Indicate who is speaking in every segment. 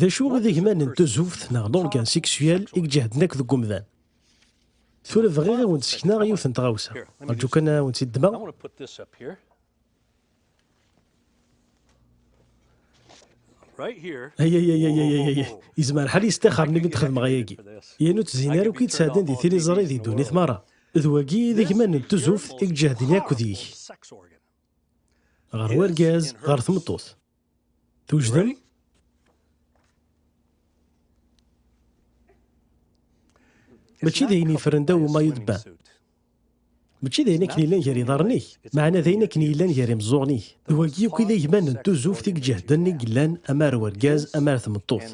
Speaker 1: D acu i d igman n tuzuft neɣ l'organe sexuel i iǧehden akk deg umdan? Tura bɣiɣ i wen-d-sekneɣ yiwet n tɣawsa. Rǧu kan ad wen-tt-id-ddmeɣ. Ayayayayayayay, yezmer lḥal yestixxer-nni mi d-xedmeɣ ayagi. Yan ur ttzin ara akk i d-sɛeddan di tiliẓri di ddunit merra. D wagi i d igman n tuzuft i iǧehden akk deg-k. ɣer urgaz ɣer tmeṭṭut twejdem mačči d ayen yefren daw umayu debba mačči d ayen akken yellan gar iḍarren-ik meɛna d ayen akken yellan gar imeẓẓuɣen-ik d wagi akk i d agman n tuzuft i iǧehden i yellan ama ar urgaz ama ar tmeṭṭut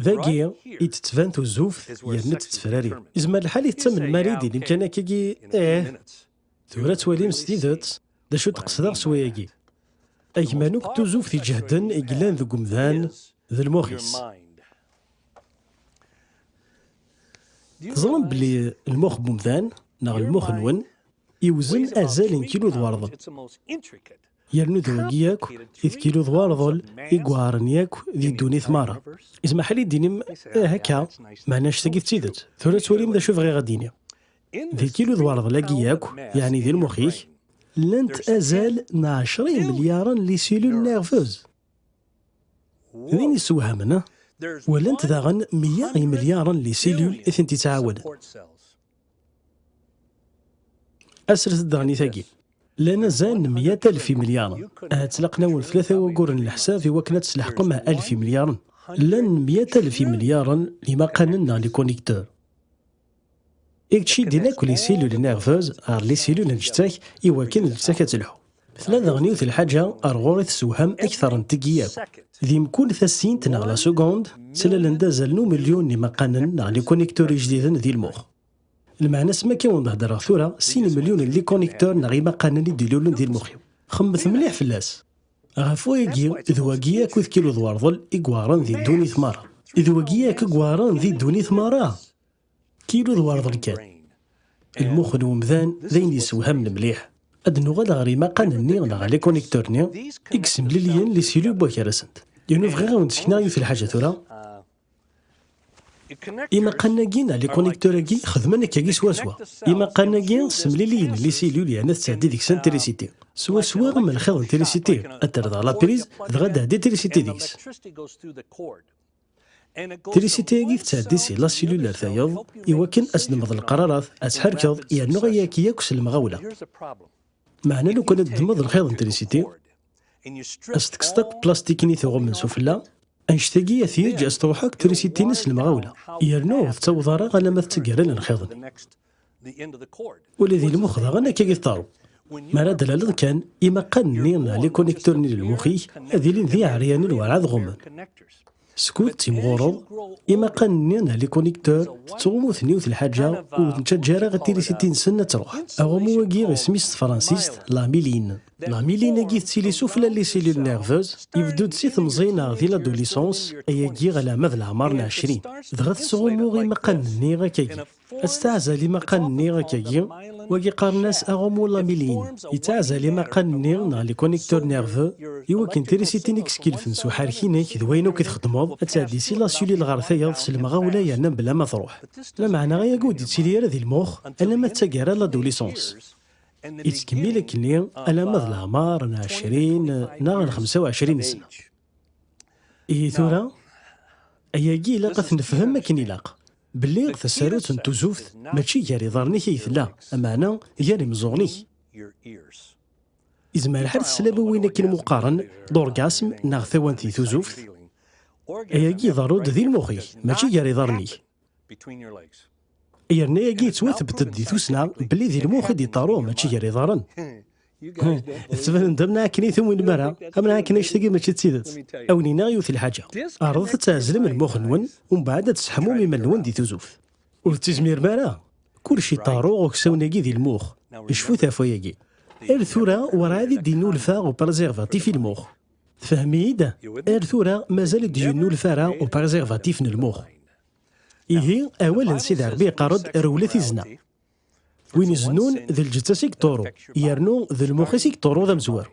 Speaker 1: dagi i d-tettban tuzuft yerna d-tettefrari izmer lḥal i tettamnem arid i limkan akkagi eh Tura ttwalim s tidet d acu d-qesdeɣ s wayagi. Agman akk tuzuft iǧehden i yellan deg umdan d lmux-is. Teẓram belli lmux n umdan neɣ lmux-nwen iwzen azal n kilu d warḍel. Yernu d wagi akk i d kilu d warḍel i yuɛren akk di ddunit merra. Ismaḥ li d-inim eh akka, meɛna annect-agi d tidet. Tura ttwalim d acu bɣiɣ ad d-iniɣ. Di kilu d warḍel-agi yakk, yeɛni di lmux-ik, llant azal n ɛecra imelyaren n lisilul nerveuses. D ayen yessewhamen, walant daɣen meyya imelyaren n lisilul i tent-yettɛawaden. Asret-d daɣen i tagi. Llan azal n meyya alef imelyaren. Ahat ttlaqen-awen tlata wayyuren n leḥsab i wakken ad tesleḥqem alef imelyaren. Llan meyya alef imelyaren n yimaqanen neɣ likonektur. I yettciddin akk lisilul nervez ɣer lisilul n lǧettak i wakken lǧettak ad telḥu. Tella daɣen yiwet lḥaǧa ar ɣur-i tessewham akteṛ n tigi akk. Di mkul tasint neɣ la segond, ttlalen-d azal n umelyun n imaqanen neɣ likonektur ijdiden di lmux. Lmeɛna-s mi akka wen-d-heddreɣ tura, sin imelyun n likonektur neɣ imaqanen i d-ilulen di lmux-iw. Xemmet mliḥ fell-as! Ɣef wayagi, d wagi akk i d kilu d warḍel i iweɛṛen di ddunit meṛṛa. D wagi akk i iweɛṛen di ddunit meṛṛa! Kilo d warḍel kan. Lmux n umdan d ayen yessewhamen mliḥ. Ad nuɣal ɣer imaqan-nni neɣ les connecteurs-nni i yessemliliyen les cellules n waker-nsent. Yernu bɣiɣ ad wen-d-sekneɣ yiwet n lḥaǧa tura. Imaqan-agi neɣ les connecteurs-agi xedmen akkagi swaswa. Imaqan-agi ssemliliyen les cellules yerna tettɛeddi deg-sent trisiti. Swaswa am lxiḍ n trisiti, ad terr daɣ la prise, dɣa ad d-tɛeddi trisiti deg-s. Trisiti-agi tettɛeddi si la silul ar tayeḍ, iwakken ad tdemmeḍ leqrarat, ad tḥerkeḍ yernu ayagi yakk s lemɣawla. Meɛna lukan ad tdemmeḍ lxiḍ n trisiti, ad s-tekkseḍ akk plastik-nni tuɣumen s ufella, annect-agi ad t-yeǧǧ ad s-truḥ akk trisiti-nni s lemɣawla, yernu ur tettaweḍ ara alamma d taggara n lxiḍ-nni. Ula d ilmux daɣen akka i tettaru. Mi ara d-tlaleḍ kan, imaqan-nni neɣ likuniktur-nni n lmux-ik ad ilin d iɛeryanen werɛad ɣummen. Skud ttimɣureḍ, imaqan-nni neɣ likuniktur tettɣummu-ten yiwet n lḥaǧa ur ten-ttaǧǧa ara i tirisiti-nsen ad truḥ. Aɣummu-agi isem-is s tefransist d la myline. La myline-agi tettili s ufella n les cellules nerveuses, ibeddu-d si temẓi neɣ di l'adolescence, ayagi alamma d leɛmer n ɛecrin, dɣa tettɣummu imaqan-nni akkagi. Ad tettɛazal imaqan-nni akkagi, wagi qqaren-as aɣummu lamilin, yettɛazal imaqan-nni neɣ les connecteurs nerveux, iwakken trisiti i yeskelfen s uḥerrek-inek d wayen akk i txeddmeḍ, ad tɛeddi si la cellule ɣer tayeḍ s lemɣawla yerna mebla ma truḥ. Lameɛna ayagi ur d-yettili ara di lmux alamma d taggara, l'adolescence. Yettkemmil akkenni alamma d leɛmar n ɛecrin neɣ n xemsa u ɛecrin sna. Ihi tura, ayagi ilaq ad t-nefhem akken ilaq, belli tasarut n tuzuft mačči gar iḍarren-ik ay tella, ameɛna gar imeẓẓuɣen-ik. Izmer lḥal teslam i win akken muqqaren d orgasme neɣ tawant di tuzuft? Ayagi iḍerru-d di lmux-ik, mačči gar iḍarren-ik. yerna yagi yettwathebted di tussna belli di lmux i d-iṭaru mačči gar iḍaren tettbanen-d am akken i tumwin mara am akken actagi mačči d tidet awen inaɣ yiwet lḥaǧa ɛerḍet ad tɛezlem lmux-nwen umbeɛd ad tesseḥmum iman-nwen di tuzuft ur tettizmirem ara kullec iṭaru uksawen-agi di lmux icfut ɣef wayagi ar tura werɛad i d-innulfa u preservatif i lmux Tfehhem-iyi-d? Ar tura mazal ur d-yennulef ara u préservatif n lmux. Ihi, awal n Sidi Ṛebbi iqqar-d rewlet i zna. Win izennun, d lǧetta-s i yeṭṭuru, yernu d lmux-is i yeṭṭuru d amezwaru.